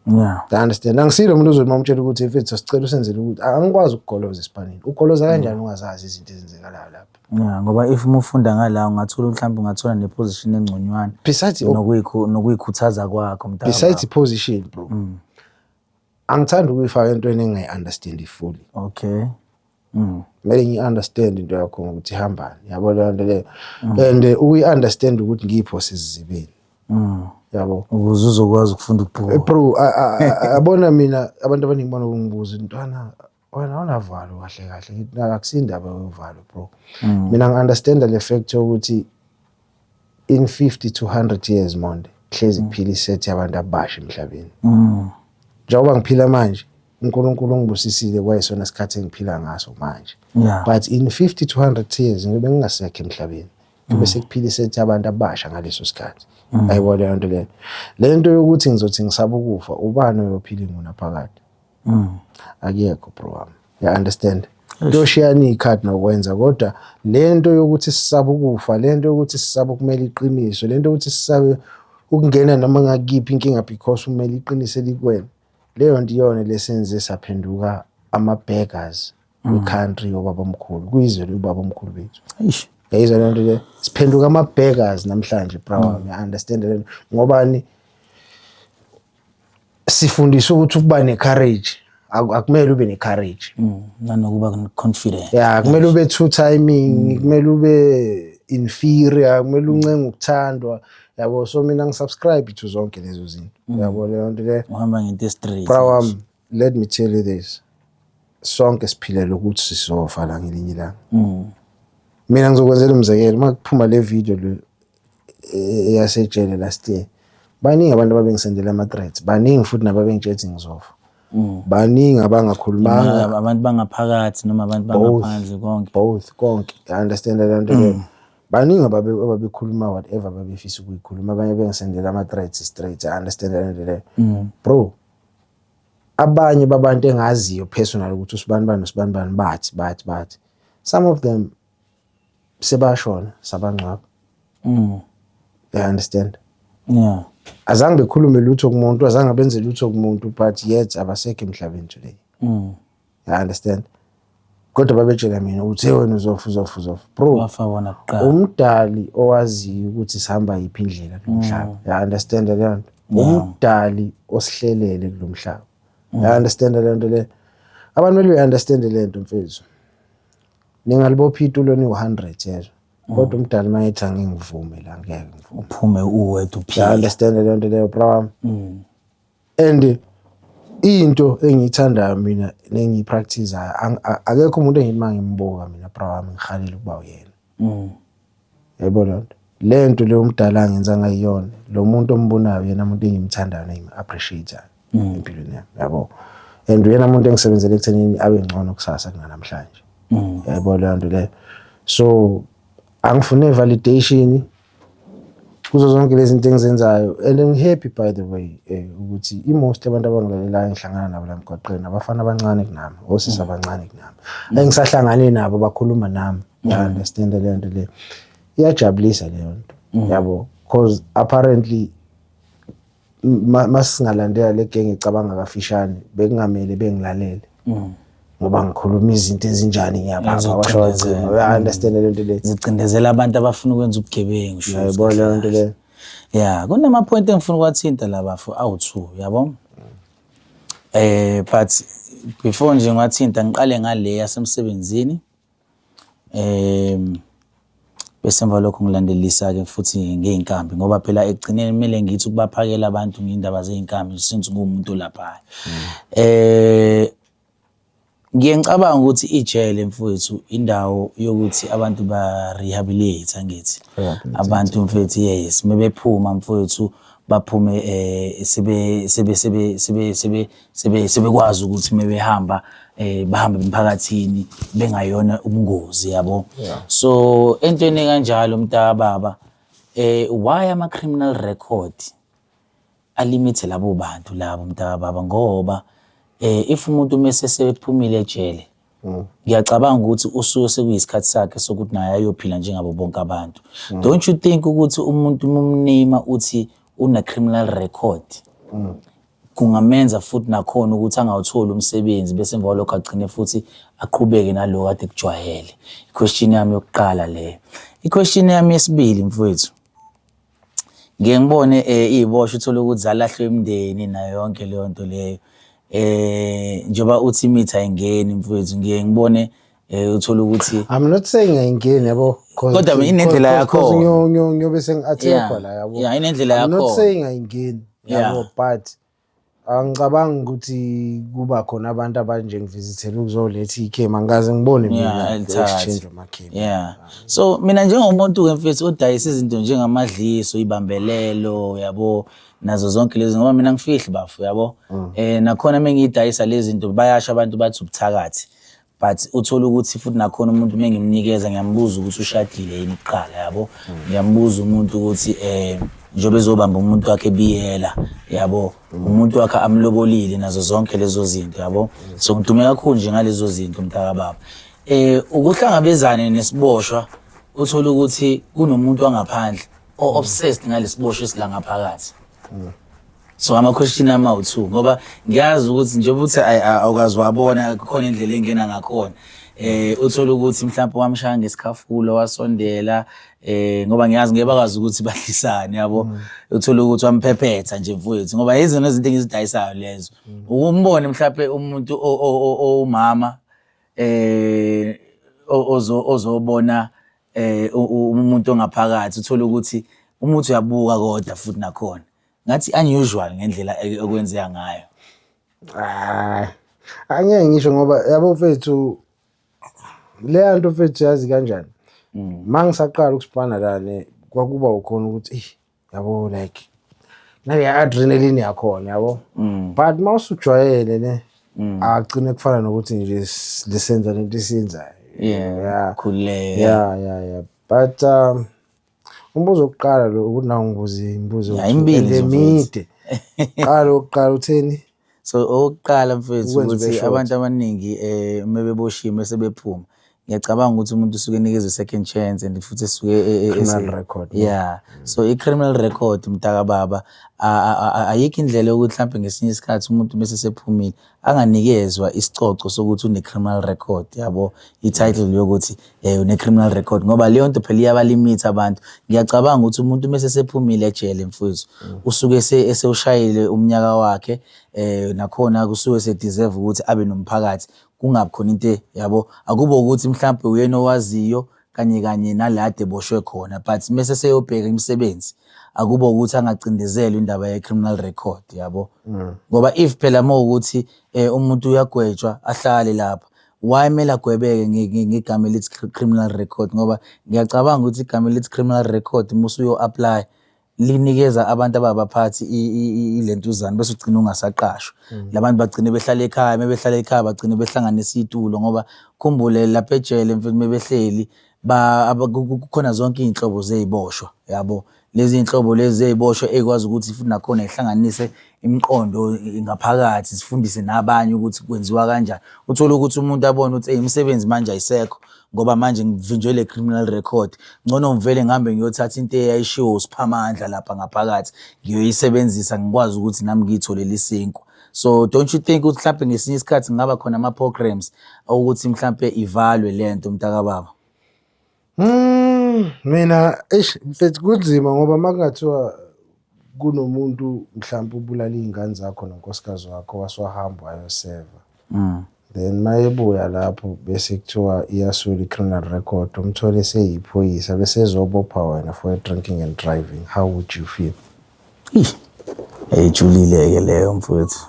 B: Yeah. I
A: understand. Angisilo
B: umuntu ozothi mamtshela ukuthi mfethu sicela usenzele ukuthi angikwazi ukugoloza esipanini. Ugoloza mm. kanjani ungazazi izinto ezenzekalayo lapha? Yeah, ngoba if
A: umufunda ngala ungathola mhlawumbe ungathola ne position engconywana. Besides nokuyikho
B: nokuyikhuthaza
A: kwakho mntana. Besides position
B: bro. Mm. Angithandi ukuyifaka entweni engayi understand fully. Okay.
A: Mm.
B: Kumele ngi understand into yakho ukuthi ihambani. Yabo leyo nto leyo. Mm. And eh, uyi understand ukuthi ngipho sizibini. Mm. Yabo. Ukuze uzokwazi
A: ukufunda ukubhuka. Eh, bro,
B: abona mina abantu abaningi bona kungibuza intwana wena awunavalo kahle kahle ngithi akusindaba yovalo bro. Mm. Mina ngi understand le fact ukuthi in 50 to 100 years monde hlezi mm. phila isethi abantu abasha emhlabeni mm. njengoba ngiphila manje uNkulunkulu ungibusisile kwayesona sikhathi engiphila ngaso manje yeah. but in 50 to 100 years ngibe ngingasekho emhlabeni kube mm. sekuphila isethi abantu abasha ngaleso sikhathi mm. ayibona leyo nto leyo le nto yokuthi ngizothi ngisaba ukufa ubani oyophila ingunaphakade mm. akekho bro wami ya understand kuyoshiyana iy'khathi nokwenza kodwa le nto yokuthi sisabe ukufa le nto yokuthi sisabe ukumela iqiniso le nto yokuthi sisabe ukungena noma ngakiphi inkinga because umele iqiniso elikwena leyo nto iyona lesenze saphenduka ama-beggers mm. icountry yobabamkhulu kuyizwe lobabamkhulu bethu eish yayizwa lento
A: le
B: siphenduka ama beggars namhlanje bro mm. i understand lento ngobani sifundiswa ukuthi ukuba ne courage akumele ube ne courage mm, nanokuba
A: confident yeah kumele ube two
B: timing kumele ube inferior kumele mm. uncenga ukuthandwa yabo so mina ngisubscribe to zonke lezo zinto mm. yabo leyo nto le uhamba ngento straight bra
A: wami let
B: me tell you this sonke siphilela ukuthi sizofa la ngelinye ilanga mm. mina ngizokwenzela umzekelo uma kuphuma le video le e, eyasejele last year baningi abantu ababengisendela ama-threats baningi futhi nababengitshethi ngizofa mm. baningi abangakhulumanga abantu bangaphakathi
A: noma abantu bangaphandle konke both konke i
B: understand leyo nto leyo mm. baningi ababekhuluma whatever babefisa ukuyikhuluma abanye bengisendela ama-threats straight i understand leyo nto leyo bro abanye babantu engaziyo personal ukuthi usibani bani usibani bani bathi bathi bathi some of them sebashona sabangcwaba mm i understand yeah
A: azange bekhulume
B: lutho kumuntu azange benze lutho kumuntu but yet abasekho emhlabeni today mm you understand kodwa babetshela mina ukuthi hey wena uzofa uzofa uzofa bro wafa wona kuqala
A: umdali
B: owaziyo ukuthi sihamba yiphi indlela kulomhlaba mm. you understand le nto umdali osihlelele kulomhlaba you mm. understand le nto le abantu mele be understand le nto mfethu ningalibopha itulo ni 100 yezwa mm. kodwa umdali mayethi angingivume la ngeke ngivume uphume uwedwa
A: uphile you understand le nto leyo
B: bro wami and into engiyithandayo mina nengiyipractisayo akekho umuntu engithi uma ngimbuka mina bra wami ngihalele ukuba uyena mm. yebo loo nto le nto leyo umdala angenza ngayiyona lo muntu ombonayo yena muntu engimthandayo nengim-appreciatayo mm. empilweni yami yabo and uyena muntu engisebenzela ekuthenini abe ngcono kusasa kunanamhlanje mm. yebo leyo nto leyo so angifune validation kuzo zonke lezi zinto engizenzayo and ngihappy by the way um ukuthi i-most abantu abangilalelayo engihlangana nabo la mgwaqeni abafana abancane kunami osisi abancane kunami mm. engisahlangane nabo bakhuluma nami mm. ya-understand leyo nto leyo iyajabulisa leyo nto mm. yabo because apparently masingalandela le genge icabanga kafishane bekungamele bengilalele mm. ngoba ngikhuluma izinto ezinjani ngiyabaunderstand le nto le zicindezela abantu abafuna
A: ukwenza ubugebengu yabo le nto le
B: ya
A: kunamaphoyinti engifuna ukwathinta la bafo awu-two yabo eh but before nje ngiwathinta ngiqale ngale yasemsebenzini Bese emva kwalokho ngilandelisa-ke futhi ngey'nkabi ngoba phela ekugcineni kumele ngithi ukubaphakela abantu ngey'ndaba zey'nkabi since nguwumuntu olaphayo. Ngiye ngicabange ukuthi ijele mfwethu indawo yokuthi abantu ba-rehabiliate angithi? Abantu mfethu yes, mebephuma mfwethu baphume sebe sebe sebe sebe sebe. sebe sebekwazi ukuthi mebehamba eh bahambe emphakathini bengayona ubungozi yabo Yeah. so entweni kanjalo mntaka baba eh why ama criminal record alimithe labo bantu labo mntaka baba ngoba eh if umuntu mese sephumile ejele Mm. ngiyacabanga ukuthi usuke sekuyisikhathi sakhe sokuthi naye ayophila njengabo bonke abantu mm. don't you think ukuthi umuntu mumnima uthi une-criminal record mm. kungamenza futhi nakhona ukuthi angawutholi umsebenzi bese emva kwalokho agcine futhi aqhubeke naloko kade kujwayele iquestion yami yokuqala leyo iquestion yami yesibili mfowethu ngiye ngibone um eh, iy'boshwa uthole ukuthi zalahlwa imndeni nayo yonke leyo nto leyo um njengoba uthi imithi ayingeni mfowethu ngiye ngibone um uthole ukuthi i'm not saying
B: ayingeni yabo kodwa inendlela
A: yakho ngiyobe
B: sengi-athekwa la yabo inendlela yakho i'm not
A: saying ayingeni
B: yabo but Angicabangi ukuthi kuba khona abantu abanje ngivizithela ukuzoletha ikhema ngikaze ngibone mina exchange amakhema. Yeah. So
A: mina njengomuntu ke mfethu odayisa izinto njengamadliso, ibambelelo, yabo nazo zonke lezi ngoba mina ngifihli bafo yabo. Mm. Eh nakhona mengidayisa lezi zinto bayasho abantu bathi ubuthakathi. but uthole ukuthi futhi nakhona umuntu uma ngimnikeza ngiyambuza ukuthi ushadile yini kuqala yabo ngiyambuza umuntu ukuthi um njengoba ezobamba umuntu wakhe ebiyela yabo umuntu wakhe amlobolile nazo zonke lezo zinto yabo so ngidume kakhulu nje ngalezo zinto mntakababa um ukuhlangabezane nesiboshwa uthole ukuthi kunomuntu wangaphandle o-obsessed ngalesiboshwa esilangaphakathi so amakhweshini ama u-two ngoba ngiyazi ukuthi njengoba uthi awukazi wabona kukhona indlela engena ngakhona eh uthola ukuthi mhlawumbe wamshaya ngesikhafulo wasondela eh ngoba ngiyazi ngeke bakwazi ukuthi badlisane yabo mm. uthola ukuthi wamphephetha nje mfowethu ngoba yizona izinto engizidayisayo lezo mm. ukumbone mhlawumbe umuntu owumama eh ozo ozobona eh umuntu ongaphakathi uthola ukuthi umuthi uyabuka kodwa futhi nakhona ngathi unusual ngendlela e- okwenzeka ngayo Ah,
B: angeke ngisho ngoba yabo mfethu leya nto mfethu yazi kanjani ma ngisaqala ukusibhana lane kwakuba ukhona ukuthi "Eish, yabo like nale adrenaline yakhona yabo but ma usujwayele ne agcine kufana nokuthi nje s- lisenza lento esiyenzayo yeah Yeah.
A: khululeka yeah yeah yeah
B: but um Umbuzo wokuqala lo ukuthi nawu ngibuza imibuzo emibili emide.
A: Qala
B: oqala utheni? So okokuqala
A: mfethu ukuthi abantu abaningi eh uma beboshiwe mase bephuma ngiyacabanga ukuthi umuntu usuke enikezwe second chance and futhi esuke e, e, e, criminal record
B: yeah so i
A: criminal record mntaka baba ayikho indlela yokuthi mhlambe ngesinye isikhathi umuntu mase sephumile anganikezwa isicoco sokuthi une-criminal record yabo i-title yokuthi um une-criminal record ngoba leyo nto phela iyabalimitha abantu ngiyacabanga ukuthi umuntu uma sesephumile ejele mfowethu mm. usuke esewushayile umnyaka wakhe um nakhona kusuke sedeserve ukuthi abe nomphakathi kungabi khona into yabo akubo ukuthi mhlawumbe uyena owaziyo kanye kanye nala ade eboshwe khona but mese seyobheka imisebenzi akubo ukuthi angacindezelwa indaba ye-criminal record yabo mm. ngoba if phela uma ukuthi um umuntu uyagwetshwa ahlale lapha why kumele agwebeke ngegama elithi criminal record ngoba ngiyacabanga ukuthi igama elithi criminal record uma usuyo-aplya linikeza abantu ababaphathi ilentuzana bese ugcina ungasaqashwa mm. labantu bagcine behlala ekhaya mebehlala ekhaya bagcine behlanganisa itulo ngoba khumbule lapha ejele mfethu mebehleli kukhona zonke izinhlobo zeziboshwa yabo lezi zinhlobo lezi zeziboshwa ekwazi ukuthi futhi nakhona ihlanganise imiqondo ngaphakathi sifundise nabanye ukuthi kwenziwa kanjani uthole ukuthi umuntu abone ukuthi imisebenzi manje ayisekho ngoba manje ngivinjwe le criminal record ngcono ngivele ngihambe ngiyothatha into eyayishiwo usiphamandla lapha ngaphakathi ngiyoyisebenzisa ngikwazi ukuthi nami ngiyitholele isinkwa so don't you think ukuthi mhlawumbe ngesinye isikhathi ngaba khona ama-programs okuthi mhlawumbe ivalwe le nto mntakababa Hmm,
B: mina eish mfethu kunzima ngoba uma kungathiwa kunomuntu mhlawumbe ubulala iy'ngane zakho nonkosikazi wakho wase wahamba wayoseva mm. then uma ebuya lapho bese kuthiwa iyasula i-criminal record umthole seyiphoyisa bese ezobopha wena for drinking and driving how would you feel
A: ejulile-ke leyo mfowethu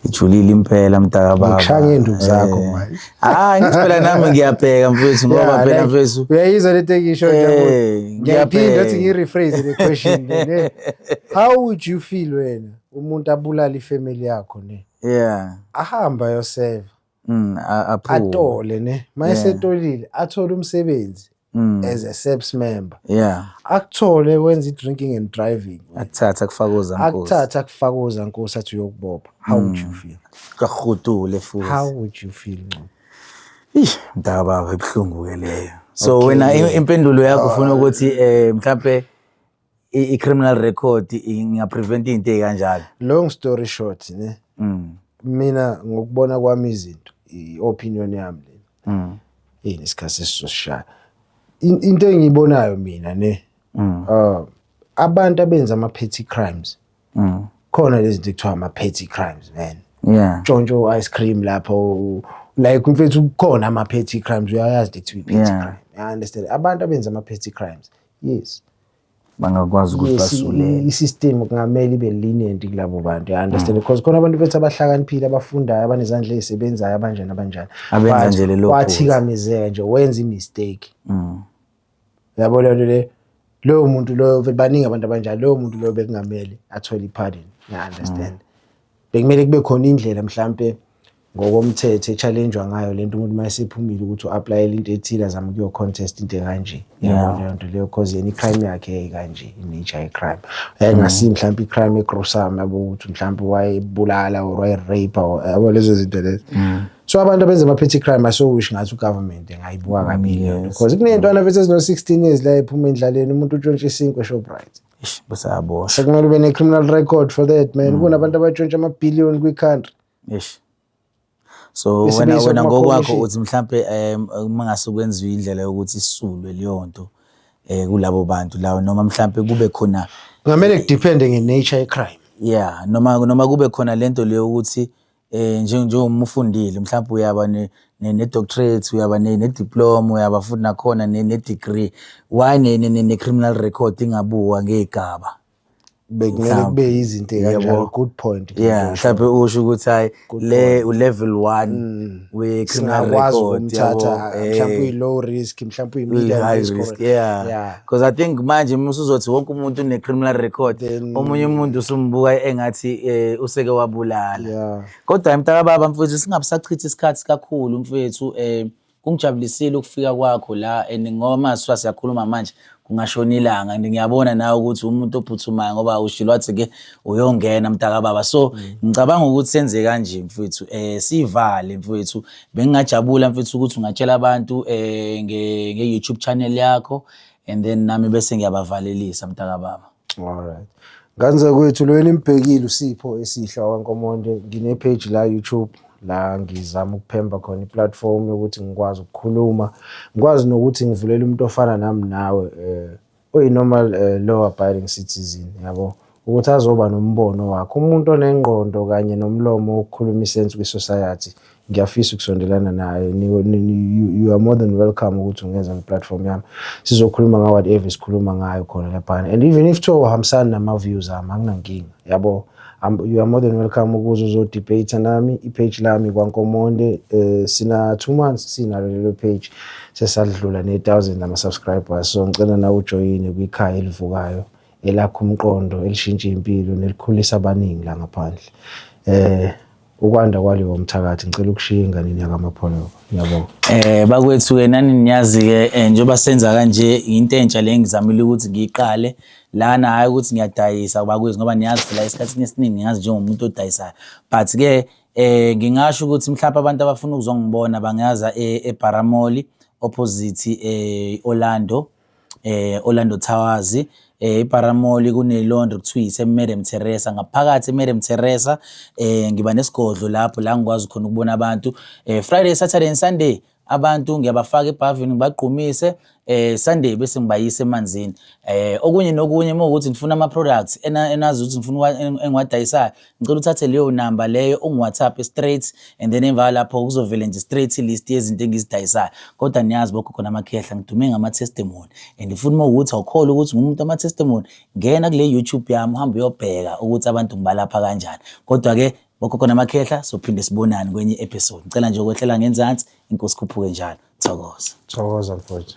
A: Ngijulile impela mntaka baba. Ngikushaya ngeenduku zakho
B: eh. manje. Hayi ngithi phela
A: nami ngiyabheka mfethu ngoba phela mfethu. Uyayizwa lento engisho
B: nje. Eh, ngiyaphinda uthi ngirephrase le question le. How would you feel wena umuntu abulala ifamily yakho ne? Yeah.
A: Ahamba
B: yoseva. mm, atole ne mayesetolile athole umsebenzi mm. as a SAPS member yeah
A: akuthole wenza
B: i-drinking and driving akuthatha kufakoza
A: nkosi akuthatha kufakoza
B: nkosi athi uyokubopha how would you mm. feel kahudule
A: futhi how would you feel
B: ncobo Eish mdaka baba
A: ibuhlungu ke leyo. So wena impendulo yakho ufuna ukuthi eh mhlambe i- i-criminal record ingaprevent into ey'kanjalo long story short
B: ne Mm, mina ngokubona kwami izinto i-opinion yami le mm, yini isikhathi sesizosishaya In- into engiyibonayo mina ne mm, uh, abantu abenza ama-petty crimes mm. khona lezi zinto ekuthiwa ama-petty crimes man yeah tshontsho
A: u-ice cream
B: lapho u- like mfethu kukhona ama-petty crimes uyayazi ukuthi uyi-petty Yeah. crime I understand abantu abenza ama-petty crimes yes bangakwazi
A: ukuthi basulele i-system kungamele
B: ibe lenient kulabo bantu i understand mm. because khona abantu bethu abahlakaniphile abafundayo abanezandla ezisebenzayo abanjani abanjani abenza nje
A: lelo wathikamezeka nje
B: wenza imistake mm. yabo lento le loyo muntu loyo baningi abantu abanjalo loyo muntu loyo bekungamele athole i-pardon ngiya-understand mm. bekumele kube khona indlela mhlampe ngokomthetho e-challenge-wa ngayo lento umuntu uma esephumile ukuthi u-aplayela into ethile azame ukuyo-contest into ekanje yabo leyo nto leyo cause yena i-crime yakhe yayikanje i-nature ye-crime yayingasiyi mm. mhlawumbe i-crime egrosam yabo ukuthi mhlawumbe wayebulala or wayerape yabo lezo zinto lezo mm. so abantu abenza ama-petty crime asowish ngathi ugovernment engayibuka mm, kabili lento cause kuney'ntwana bethu ezino-sixteen years la ephuma endlaleni umuntu utshontshe isinkwe eshoprite
A: sekumele ube ne-criminal
B: record for that man kunabantu abatshontshe ama-billion kwi-country Eish. So
A: wena Isimiso wena ngokwakho kumakhomishini. uthi mhlampe em, uma ngase kwenziwe indlela yokuthi isulwe leyo nto eh kulabo bantu lawo noma mhlampe kube khona kungamele kudiphende
B: nge-nature ye-crime yeah noma
A: noma kube khona lento leyo ukuthi eh nje- njengoba ufundile mhlawumbe uyaba ne ne- ne doctorate uyaba ne ne diploma uyaba futhi nakhona ne ne degree why ne ne- ne ne criminal record ingabuwa ngegaba bekumele
B: kube yizinto ekanjalo good point yeah mhlawumbe usho
A: ukuthi hayi le ulevel 1 mm. we criminal record ukumthatha eh. mhlawumbe
B: uyi low risk mhlawumbe uyi medium risk yeah because i
A: think manje uma usuzothi wonke umuntu une criminal record omunye umuntu usumbuka engathi eh, useke wabulala kodwa mntaka baba mfowethu singabusachithi isikhathi kakhulu mfowethu eh Kungijabulisile ukufika kwakho la and ngoba masifa siyakhuluma manje kungashona ilanga and ngiyabona nawe ukuthi umuntu ophuthumayo ngoba ushilo wathi ke uyongena mtaka baba so mm. ngicabanga ukuthi senze kanje mfethu eh sivale mfethu bengingajabula mfethu ukuthi ungatshela abantu eh nge, nge YouTube channel yakho and then nami bese ngiyabavalelisa mtaka baba Alright.
B: Ngane zakwethu lo enimubhekile uSipho esihle waKwaNkomonde ngine-page la YouTube la ngizama ukuphemba khona i-platform yokuthi ngikwazi ukukhuluma ngikwazi nokuthi ngivulele umuntu ofana nami nawe eh oyi-normal uh, law abiding citizen yabo ukuthi azoba nombono wakhe umuntu onengqondo kanye nomlomo wokukhuluma isense kwi-society ngiyafisa ukusondelana naye you are more than welcome ukuthi ungeza kwi-platform yami sizokhuluma ngawo whatever esikhuluma ngayo khona laphana and even if kuthiwa uhambisani nama-views ami anginankinga yabo you are more than welcome ukuze uzodebate nami ipage lami kwankomonde um sina two months sinalo lelo page sesadlula ne-thousand ama-subscribers so ngicela nawe ujoyine kwikhaya elivukayo elakho umqondo elishintsha impilo nelikhulisa abaningi la ngaphandle um ukwanda kwaleyo mthakathi ngicela ukushiya enganeni yakamapholo ngiyabonga eh bakwethu ke
A: nani niyazi ke eh, njengoba senza kanje into entsha le ngizamile ukuthi ngiqale lana hayi ukuthi ngiyadayisa bakwethu ngoba niyazi phela esikhathini esiningi ngiyazi njengomuntu odayisayo but ke eh ngingasho ukuthi mhlawumbe abantu abafuna ukuzongibona bangaza eh, eBaramoli opposite eh Orlando eh Orlando Towers eh iParamoli kune laundry kuthiwa ise Madam Teresa ngaphakathi Madam Teresa eh ngiba nesigodlo lapho la ngikwazi khona ukubona abantu eh Friday Saturday and Sunday abantu ngiyabafaka ebhavini ngibagqumise eh Sunday bese ngibayisa emanzini eh okunye nokunye uma ukuthi ngifuna ama products enazi ukuthi ngifuna engiwadayisayo ngicela uthathe leyo namba leyo ungiwhatsapp straight and then emva lapho kuzovele nje straight list yezinto engizidayisayo kodwa niyazi bokho khona amakhehla ngidume ngama-testimony and futhi uma ukuthi awukholwa ukuthi ngumuntu ama-testimony ngena kule youtube yami uhambe uyobheka ukuthi abantu ngibalapha kanjani kodwa-ke bokho khona amakhehla sophinde sibonane kwenye i-episode ngicela nje ukwehlela
B: ngenzansi
A: inkosi khuphuke njalo thokoza thokoza mfowethu